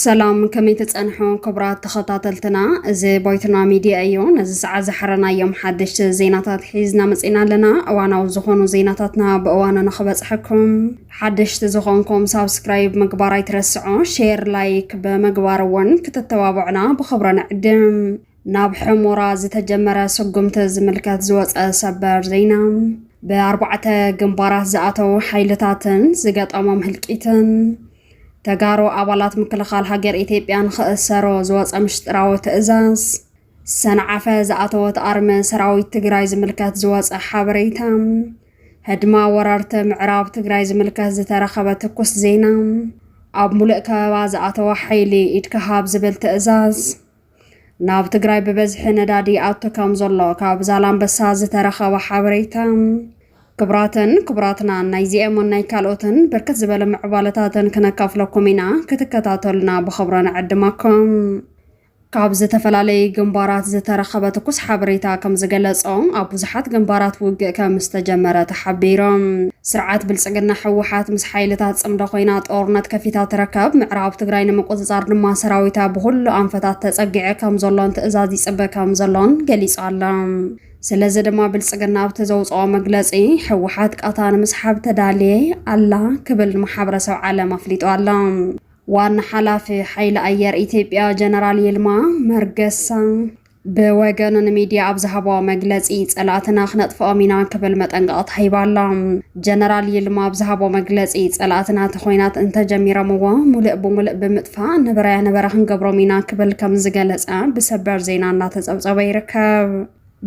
ሰላም ከመይ ተፀንሑ ክቡራት ተኸታተልትና እዚ ቦይትና ሚድያ እዩ ነዚ ሰዓት ዝሓረናዮም ሓደሽቲ ዜናታት ሒዝና መፂና ኣለና እዋናዊ ዝኾኑ ዜናታትና ብእዋኑ ንኽበፅሐኩም ሓደሽቲ ዝኾንኩም ሳብስክራይብ ምግባር ኣይትረስዑ፣ ሼር ላይክ ብምግባር እውን ክትተባብዑና ብኽብሪ ንዕድም። ናብ ሕሞራ ዝተጀመረ ስጉምቲ ዝምልከት ዝወፀ ሰበር ዜና ብኣርባዕተ ግንባራት ዝኣተው ሓይልታትን ዝገጠሞም ህልቂትን ተጋሩ ኣባላት ምክልኻል ሃገር ኢትዮጵያ ንክእሰሮ ዝወፀ ምሽጥራዊ ትእዛዝ፣ ሰንዓፈ ዝኣተወት ኣርሚ ሰራዊት ትግራይ ዝምልከት ዝወፀ ሓበሬታ፣ ህድማ ወረርቲ ምዕራብ ትግራይ ዝምልከት ዝተረኸበ ትኩስ ዜና፣ ኣብ ሙሉእ ከበባ ዝኣተወ ሓይሊ ኢድካ ሃብ ዝብል ትእዛዝ፣ ናብ ትግራይ ብበዝሒ ነዳዲ ይኣቱ ከም ዘሎ ካብ ዛላምበሳ ዝተረኸበ ሓበሬታ፣ ክብራትን ክብራትናን ናይዚኤሙን ናይ ካልኦትን ብርክት ዝበለ ምዕባለታትን ክነካፍለኩም ኢና፣ ክትከታተሉና ብኽብሪ ንዕድመኩም። ካብ ዝተፈላለዩ ግንባራት ዝተረኸበ ትኩስ ሓበሬታ ከም ዝገለጾ፣ ኣብ ብዙሓት ግንባራት ውግእ ከም ዝተጀመረ ተሓቢሩ። ስርዓት ብልጽግና ህወሓት ምስ ሓይልታት ጽምዶ ኮይና ጦርነት ከፊታ ትርከብ፣ ምዕራብ ትግራይ ንምቁጽጻር ድማ ሰራዊታ ብኹሉ ኣንፈታት ተጸጊዐ ከም ዘሎን ትእዛዝ ይጽበ ከም ዘሎን ገሊጹ ኣሎ። ስለዚ ድማ ብልጽግና ኣብቲ ዘውጽኦ መግለጺ፣ ህወሓት ቃታ ንምስሓብ ተዳልየ ኣላ ክብል ንማሕበረሰብ ዓለም ኣፍሊጡ ኣሎ። ዋና ሓላፊ ሓይሊ ኣየር ኢትዮጵያ ጀነራል ይልማ መርገሳ ብወገኑ ንሚድያ ኣብ ዝሃቦ መግለፂ ፀላእትና ክነጥፍኦም ኢና ክብል መጠንቀቕታ ሂባ ኣላ። ጀነራል ይልማ ኣብ ዝሃቦ መግለፂ ፀላእትና እቲ ኾይናት እንተጀሚሮምዎ ሙሉእ ብሙሉእ ብምጥፋእ ነበራያ ነበረ ክንገብሮም ኢና ክብል ከምዝገለፀ ብሰበር ዜና እናተፀብፀበ ይርከብ።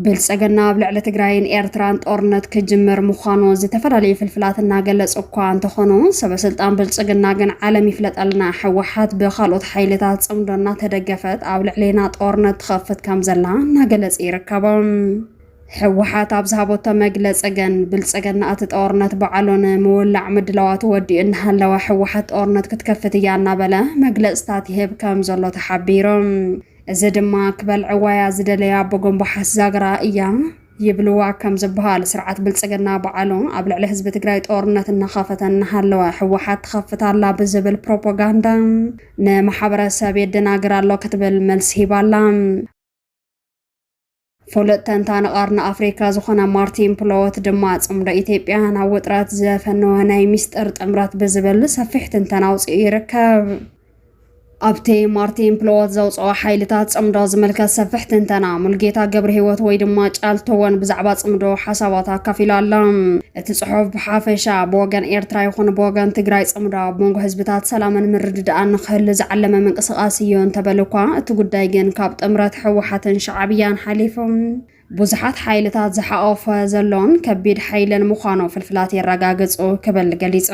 ብልፅግና ኣብ ልዕሊ ትግራይን ኤርትራን ጦርነት ክጅምር ምዃኑ ዝተፈላለዩ ፍልፍላት እናገለፁ እኳ እንተኾኑ ሰበስልጣን ብልፅግና ግን ዓለም ይፍለጠልና ህወሓት ብካልኦት ሓይልታት ፅምዶ እናተደገፈት ኣብ ልዕሌና ጦርነት ትኸፍት ከም ዘላ እናገለፁ ይርከቦም። ህወሓት ኣብ ዝሃቦቶ መግለፂ ግን ብልፅግና እቲ ጦርነት በዓሉ ንምውላዕ ምድላዋቱ ወዲኡ እናሃለወ ህወሓት ጦርነት ክትከፍት እያ እናበለ መግለፅታት ይህብ ከም ዘሎ ተሓቢሩ። እዚ ድማ ክበልዕዋያ ዝደለያ ቦጎምባሓስ ዛግራ እያ ይብልዋ ከም ዝበሃል ስርዓት ብልፅግና በዓሉ ኣብ ልዕሊ ህዝቢ ትግራይ ጦርነት እናኸፈተ እናሃለወ ህወሓት ትኸፍት ኣላ ብዝብል ፕሮፖጋንዳ ንማሕበረሰብ የደናግር ኣሎ ክትብል መልሲ ሂባላ። ፍሉጥ ተንታኒ ቀርኒ ኣፍሪካ ዝኾነ ማርቲን ፕሎወት ድማ ፅምዶ ኢትዮጵያ ናብ ውጥረት ዘፈነወ ናይ ሚስጥር ጥምረት ብዝብል ሰፊሕ ትንተና ኣውፅኡ ይርከብ። ኣብቲ ማርቲን ፕሎወት ዘውፅኦ ሓይልታት ፅምዶ ዝምልከት ሰፍሕ ትንተና ሙልጌታ ገብረ ህይወት ወይ ድማ ጫልቶወን ብዛዕባ ፅምዶ ሓሳባት ኣካፊሉ ኣሎ እቲ ፅሑፍ ብሓፈሻ ብወገን ኤርትራ ይኹን ብወገን ትግራይ ፅምዶ ኣብ መንጎ ህዝብታት ሰላምን ምርድዳእን ንክህሉ ዝዓለመ ምንቅስቃስ እዩ እንተበሉ እኳ እቲ ጉዳይ ግን ካብ ጥምረት ህወሓትን ሻዕብያን ሓሊፎም ብዙሓት ሓይልታት ዝሓቖፈ ዘሎን ከቢድ ሓይልን ምዃኑ ፍልፍላት የረጋግጹ ክብል ገሊጹ።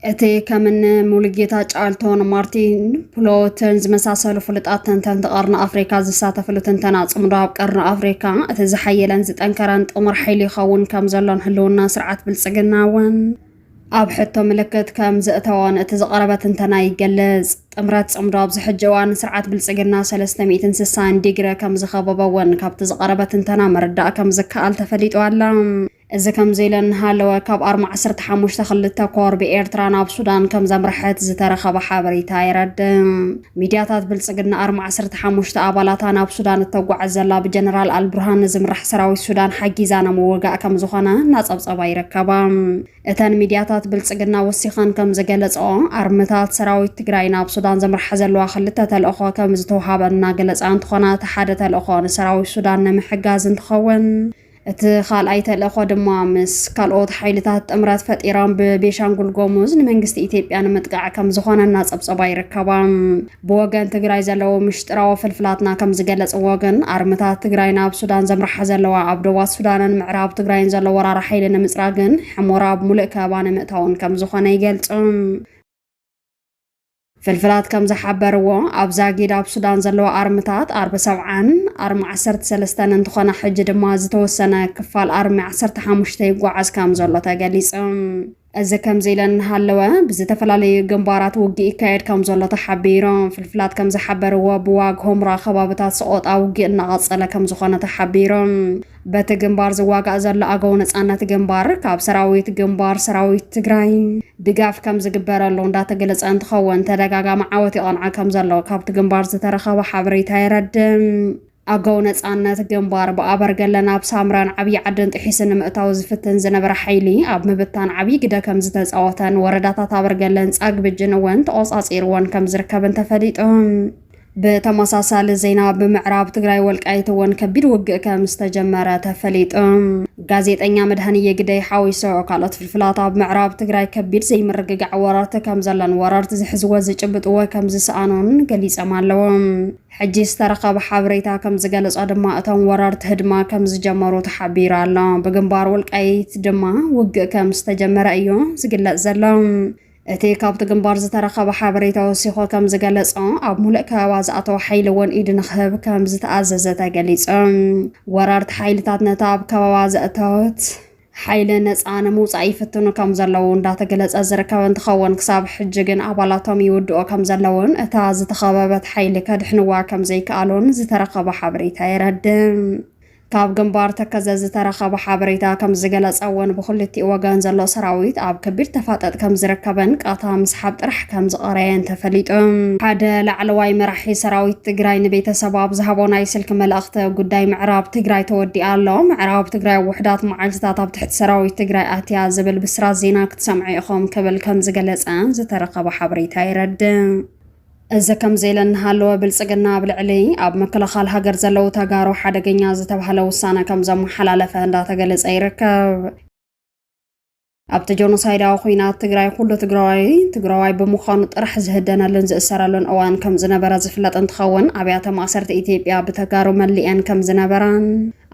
እቲ ከምኒ ሙሉጌታ ጫልቶን ማርቲን ፕሎትን ዝመሳሰሉ ፍሉጣት ተንተንቲ ቀርኒ ኣፍሪካ ዝሳተፍሉ ትንተና ፅምዶ ኣብ ቀርኒ ኣፍሪካ እቲ ዝሓየለን ዝጠንከረን ጥሙር ሓይሊ ይኸውን ከም ዘሎን ህልውና ስርዓት ብልፅግና እውን ኣብ ሕቶ ምልክት ከም ዘእተወን እቲ ዝቐረበ ትንተና ይገልጽ። ጥምረት ጽምዶ ኣብዚ ሕጂ እዋን ስርዓት ብልጽግና ሰለስተ ሚእትን ስሳን ዲግረ ከም ዝኸበቦ እውን ካብቲ ዝቐረበ ትንተና ምርዳእ ከም ዝከኣል ተፈሊጡ ኣላ። እዚ ከምዚ ኢለ እንሃለወ ካብ ኣርማ ዓሰርተ ሓሙሽተ ክልተ ኮር ብኤርትራ ናብ ሱዳን ከም ዘምርሐት ዝተረኸበ ሓበሬታ የረድእ። ሚድያታት ብልፅግና ኣርማ ዓሰርተ ሓሙሽተ ኣባላታ ናብ ሱዳን እተጓዕዝ ዘላ ብጀነራል ኣልቡርሃን ንዝምራሕ ሰራዊት ሱዳን ሓጊዛ ናብ ምውጋእ ከም ዝኾነ እናፀብፀባ ይርከባ። እተን ሚድያታት ብልፅግና ወሲኸን ከም ዝገለፀኦ ኣርምታት ሰራዊት ትግራይ ናብ ሱዳን ዘምርሓ ዘለዋ ክልተ ተልእኾ ከም ዝተውሃበን እናገለፃ እንትኾና እቲ ሓደ ተልእኾ ንሰራዊት ሱዳን ንምሕጋዝ እንትኸውን እቲ ካልኣይ ተልእኾ ድማ ምስ ካልኦት ሓይልታት ጥምረት ፈጢሮም ብቤሻንጉል ጎሙዝ ንመንግስቲ ኢትዮጵያ ንምጥቃዕ ከም ዝኾነ እናፀብፀባ ይርከባ። ብወገን ትግራይ ዘለዉ ምሽጥራዊ ፍልፍላትና ከም ዝገለፅዎ ግን ኣርምታት ትግራይ ናብ ሱዳን ዘምርሓ ዘለዋ ኣብ ዶባት ሱዳንን ምዕራብ ትግራይን ዘሎ ወራሪ ሓይሊ ንምፅራግን ሕሞራ ኣብ ሙሉእ ከበባ ንምእታውን ከም ዝኾነ ይገልፁ። ፍልፍላት ከም ዝሓበርዎ ኣብ ዛጊድ ኣብ ሱዳን ዘለዋ ኣርምታት ኣርሚ ሰብዓን ኣርሚ ዓሰርተ ሰለስተን እንትኾና ሕጂ ድማ ዝተወሰነ ክፋል ኣርሚ ዓሰርተ ሓሙሽተ ይጓዓዝ ከም ዘሎ ተገሊጹ። እዚ ከምዚ ኢለን እናሃለወ ብዝተፈላለዩ ግንባራት ውግእ ይካየድ ከም ዘሎ ተሓቢሩ። ፍልፍላት ከም ዝሓበርዎ ብዋግ ሆምራ ከባብታት ሰቆጣ ውግእ እናቐጸለ ከም ዝኾነ ተሓቢሩ። በቲ ግንባር ዝዋጋእ ዘሎ ኣገው ነፃነት ግንባር ካብ ሰራዊት ግንባር ሰራዊት ትግራይ ድጋፍ ከም ዝግበረሉ እንዳተገለፀ እንትኸውን ተደጋጋሚ ዓወት ይቐንዐ ከም ዘሎ ካብቲ ግንባር ዝተረኸበ ሓበሬታ የረድም። ኣገው ነፃነት ግንባር ብኣበርገለ ናብ ሳምራን ዓብዪ ዓድን ጥሒሱ ንምእታው ዝፍትን ዝነበረ ሓይሊ ኣብ ምብታን ዓብዪ ግደ ከም ዝተፃወተን ወረዳታት ኣበርገለን ፃግብጅን እውን ተቖፃፂርዎን ከም ዝርከብን ተፈሊጡ ብተመሳሳሊ ዜና ብምዕራብ ትግራይ ወልቃይት እውን ከቢድ ውግእ ከም ዝተጀመረ ተፈሊጡ። ጋዜጠኛ መድሃንየ ግደይ ሓዊሶ ካልኦት ፍልፍላት ኣብ ምዕራብ ትግራይ ከቢድ ዘይምርግጋዕ ወረርቲ ከም ዘሎን ወረርቲ ዝሕዝዎ ዝጭብጥዎ ከም ዝሰኣኑን ገሊጸም ኣለዎ። ሕጂ ዝተረኸበ ሓበሬታ ከም ዝገለጾ ድማ እቶም ወረርቲ ህድማ ከም ዝጀመሩ ተሓቢሩ ኣሎ። ብግንባር ወልቃይት ድማ ውግእ ከም ዝተጀመረ እዩ ዝግለጽ ዘሎ። እቲ ካብቲ ግንባር ዝተረኸበ ሓበሬታ ወሲኾ ከም ዝገለጾ ኣብ ሙሉእ ከበባ ዝኣተወ ሓይሊ እውን ኢድ ንክህብ ከም ዝተኣዘዘ ተገሊጹ። ወረርቲ ሓይልታት ነቲ ኣብ ከበባ ዘእተወት ሓይሊ ነፃ ንምውፃእ ይፍትኑ ከም ዘለዉ እንዳተገለፀ ዝርከብ እንትኸውን ክሳብ ሕጂ ግን ኣባላቶም ይውድኦ ከም ዘለውን እታ ዝተኸበበት ሓይሊ ከድሕንዋ ከም ዘይከኣሉን ዝተረኸበ ሓበሬታ የረድእ። ካብ ግንባር ተከዘ ዝተረኸበ ሓበሬታ ከምዝገለፀ እውን ብክልቲኡ ወገን ዘሎ ሰራዊት ኣብ ከቢድ ተፋጠጥ ከምዝርከበን ቃታ ምስሓብ ጥራሕ ከምዝቐረየን ተፈሊጡ። ሓደ ላዕለዋይ መራሒ ሰራዊት ትግራይ ንቤተሰቡ ኣብ ዝሃቦ ናይ ስልኪ መልእኽቲ ጉዳይ ምዕራብ ትግራይ ተወዲኣ ኣሎ፣ ምዕራብ ትግራይ ውሑዳት መዓልትታት ኣብ ትሕቲ ሰራዊት ትግራይ ኣትያ ዝብል ብስራት ዜና ክትሰምዑ ኢኹም ክብል ከምዝገለፀ ዝተረኸበ ሓበሬታ የረድእ። እዚ ከምዚ ኢለን እናሃለወ ብልፅግና ኣብ ልዕሊ ኣብ ምክልኻል ሃገር ዘለው ተጋሩ ሓደገኛ ዝተባህለ ውሳነ ከም ዘመሓላለፈ እንዳተገለፀ ይርከብ። ኣብቲ ጆኖሳይዳዊ ኩናት ትግራይ ኩሉ ትግራዋይ ትግራዋይ ብምዃኑ ጥራሕ ዝህደነሉን ዝእሰረሉን እዋን ከም ዝነበረ ዝፍለጥ እንትኸውን ኣብያተ ማእሰርቲ ኢትዮጵያ ብተጋሩ መሊኤን ከም ዝነበራን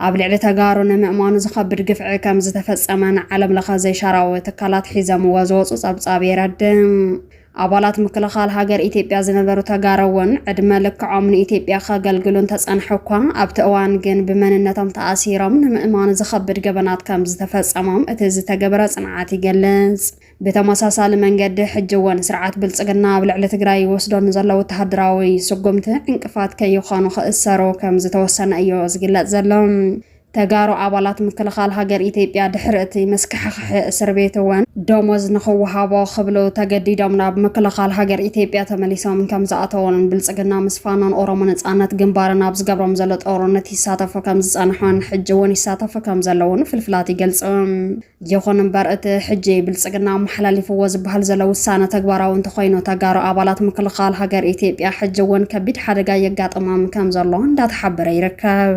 ኣብ ልዕሊ ተጋሩ ንምእማኑ ዝኸብድ ግፍዒ ከም ዝተፈፀመን ዓለም ለኸ ዘይሻራዊ ትካላት ሒዘምዎ ዝወፁ ፀብፃብ የረድእ። ኣባላት ምክልኻል ሃገር ኢትዮጵያ ዝነበሩ ተጋሩ እውን ዕድመ ልክዖም ንኢትዮጵያ ከገልግሉ እንተፀንሑ እኳ ኣብቲ እዋን ግን ብመንነቶም ተኣሲሮም ንምእማኑ ዝኸብድ ገበናት ከምዝተፈፀሞም እቲ ዝተገበረ ፅንዓት ይገልፅ። ብተመሳሳሊ መንገዲ ሕጂ እውን ስርዓት ብልፅግና ኣብ ልዕሊ ትግራይ ይወስዶ ንዘሎ ወተሃደራዊ ስጉምቲ ዕንቅፋት ከይኾኑ ክእሰሩ ከምዝተወሰነ እዮ ዝግለፅ ዘሎ። ተጋሩ ኣባላት ምክልኻል ሃገር ኢትዮጵያ ድሕሪ እቲ መስካሕኽሒ እስር ቤት እውን ደሞዝ ንኽወሃቦ ክብሉ ተገዲዶም ናብ ምክልኻል ሃገር ኢትዮጵያ ተመሊሶም ከምዝኣተዉን ብልፅግና ምስ ፋኖን ኦሮሞ ነፃነት ግንባርን ኣብ ዝገብሮም ዘሎ ጦርነት ይሳተፉ ከምዝፀንሑን ሕጂ እውን ይሳተፉ ከምዘለዉን ፍልፍላት ይገልፁ። ይኹን እምበር እቲ ሕጂ ብልፅግና ኣመሓላሊፍዎ ዝበሃል ዘሎ ውሳነ ተግባራዊ እንተኾይኑ ተጋሩ ኣባላት ምክልኻል ሃገር ኢትዮጵያ ሕጂ እውን ከቢድ ሓደጋ የጋጥሞም ከምዘሎ እንዳተሓበረ ይርከብ።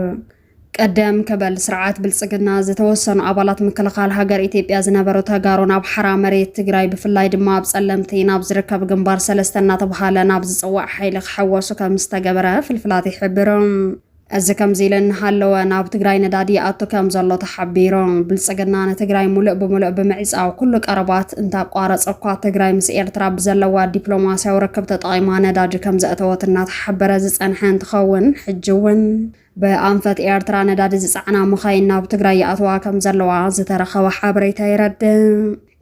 ቅድም ክብል ስርዓት ብልፅግና ዝተወሰኑ ኣባላት ምክልኻል ሃገር ኢትዮጵያ ዝነበሩ ተጋሩ ናብ ሓራ መሬት ትግራይ ብፍላይ ድማ ኣብ ፀለምቲ ናብ ዝርከብ ግንባር ሰለስተ እናተብሃለ ናብ ዝፅዋዕ ሓይሊ ክሕወሱ ከም ዝተገበረ ፍልፍላት ይሕብሩ። እዚ ከምዚ ኢሉ እናሃለወ ናብ ትግራይ ነዳዲ ይኣቱ ከም ዘሎ ተሓቢሩ። ብልፅግና ንትግራይ ሙሉእ ብሙሉእ ብምዕፃው ኩሉ ቀረባት እንተቋረፀ እኳ ትግራይ ምስ ኤርትራ ብዘለዋ ዲፕሎማሲያዊ ርክብ ተጠቒማ ነዳዲ ከም ዘእተወት እናተሓበረ ዝፀንሐ እንትኸውን ሕጂ እውን ብኣንፈት ኤርትራ ነዳዲ ዝጸዕና መኻይን ናብ ትግራይ ይኣትዋ ከም ዘለዋ ዝተረኸበ ሓበሬታ የረድእ።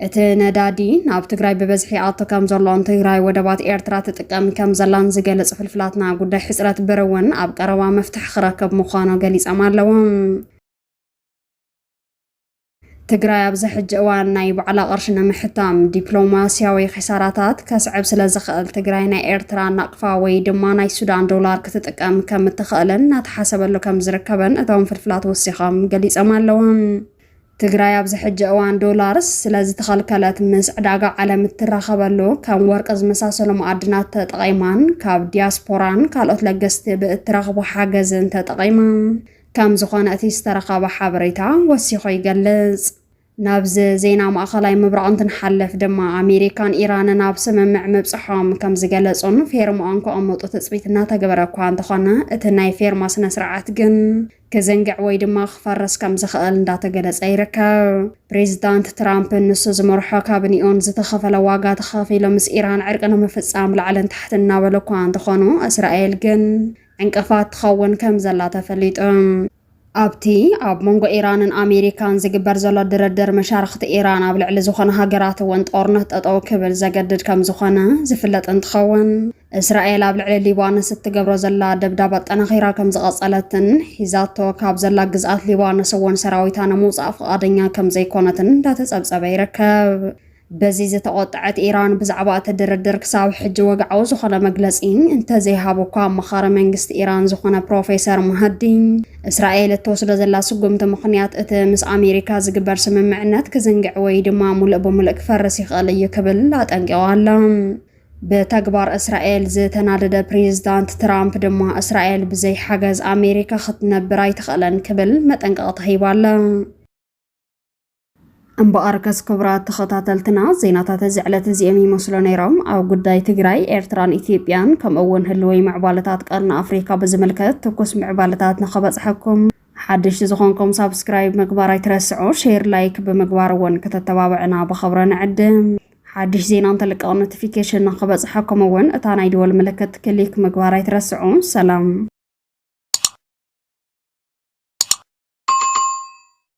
እቲ ነዳዲ ናብ ትግራይ ብበዝሒ ይኣቱ ከም ዘሎን ትግራይ ወደባት ኤርትራ ትጥቀም ከም ዘላን ዝገልጽ ፍልፍላትና ጉዳይ ሕጽረት ብር እውን ኣብ ቀረባ መፍትሒ ክረክብ ምዃኑ ገሊጾም ኣለዉ። ትግራይ ኣብዚ ሕጂ እዋን ናይ ባዕላ ቅርሺ ንምሕታም ዲፕሎማስያዊ ኺሳራታት ከስዕብ ስለ ዝኽእል ትግራይ ናይ ኤርትራ ናቕፋ ወይ ድማ ናይ ሱዳን ዶላር ክትጥቀም ከም እትኽእልን እናተሓሰበሉ ከም ዝርከበን እቶም ፍልፍላት ወሲኾም ገሊጾም ኣለዎም። ትግራይ ኣብዚ ሕጂ እዋን ዶላር ስለ ዝተኸልከለት ምስ ዕዳጋ ዓለም እትራኸበሉ ከም ወርቂ ዝመሳሰሉ መኣድናት ተጠቒማን ካብ ዲያስፖራን ካልኦት ለገስቲ ብእትረኽቦ ሓገዝን ተጠቒማ ከም ዝኾነ እቲ ዝተረኸበ ሓበሬታ ወሲኹ ይገልጽ። ናብዚ ዜና ማእኸላይ ምብራቕ እንትንሓልፍ ድማ ኣሜሪካን ኢራንን ኣብ ስምምዕ ምብጽሖም ከም ዝገለጹን ፌርምኦም ከቐምጡ ትጽቢት እናተገበረ እኳ እንተኾነ እቲ ናይ ፌርማ ስነ ስርዓት ግን ክዝንግዕ ወይ ድማ ክፈርስ ከም ዝኽእል እንዳተገለጸ ይርከብ። ፕሬዚዳንት ትራምፕን ንሱ ዝመርሖ ካብንኡን ዝተኸፈለ ዋጋ ተኸፊሉ ምስ ኢራን ዕርቂ ንምፍጻም ላዕልን ታሕትን እናበሉ እኳ እንተኾኑ እስራኤል ግን ዕንቅፋት ትኸውን ከም ዘላ ተፈሊጡ። ኣብቲ ኣብ መንጎ ኢራንን ኣሜሪካን ዝግበር ዘሎ ድርድር፣ መሻርኽቲ ኢራን ኣብ ልዕሊ ዝኾና ሃገራት እውን ጦርነት ጠጠው ክብል ዘገድድ ከም ዝኾነ ዝፍለጥ እንትኸውን፣ እስራኤል ኣብ ልዕሊ ሊባኖስ እትገብሮ ዘላ ደብዳብ ኣጠናኺራ ከም ዝቐጸለትን ሒዛቶ ካብ ዘላ ግዝኣት ሊባኖስ እውን ሰራዊታ ንምውጻእ ፍቓደኛ ከም ዘይኮነትን እንዳተጸብጸበ ይርከብ። በዚ ዝተቖጠዐት ኢራን ብዛዕባ እቲ ድርድር ክሳብ ሕጂ ወግዓዊ ዝኾነ መግለጺ እንተዘይሃቡ እኳ ኣማኻሪ መንግስቲ ኢራን ዝኾነ ፕሮፌሰር ማሃዲ እስራኤል እትወስዶ ዘላ ስጉምቲ ምኽንያት እቲ ምስ ኣሜሪካ ዝግበር ስምምዕነት ክዝንግዕ ወይ ድማ ሙሉእ ብሙሉእ ክፈርስ ይኽእል እዩ ክብል ኣጠንቂቑ ኣሎ። ብተግባር እስራኤል ዝተናደደ ፕሬዝዳንት ትራምፕ ድማ እስራኤል ብዘይ ሓገዝ ኣሜሪካ ክትነብር ኣይትኽእልን ክብል መጠንቀቕታ ሂቡ ኣሎ። እምበኣርከስ ክቡራት ተኸታተልትና ዜናታት እዚ ዕለት እዚኦም ይመስሉ ነይሮም። ኣብ ጉዳይ ትግራይ፣ ኤርትራን ኢትዮጵያን ከምኡ እውን ህልወይ ምዕባለታት ቀርኒ ኣፍሪካ ብዝምልከት ትኩስ ምዕባለታት ንኸበፅሐኩም ሓደሽቲ ዝኾንኩም ሳብስክራይብ ምግባር ኣይትረስዑ፣ ሼር ላይክ ብምግባር እውን ከተተባብዕና ብኸብረ ንዕድም። ሓድሽ ዜና እንተልቀቕ ኖቲፊኬሽን ንኸበፅሐኩም እውን እታ ናይ ደወል ምልክት ክሊክ ምግባር ኣይትረስዑ። ሰላም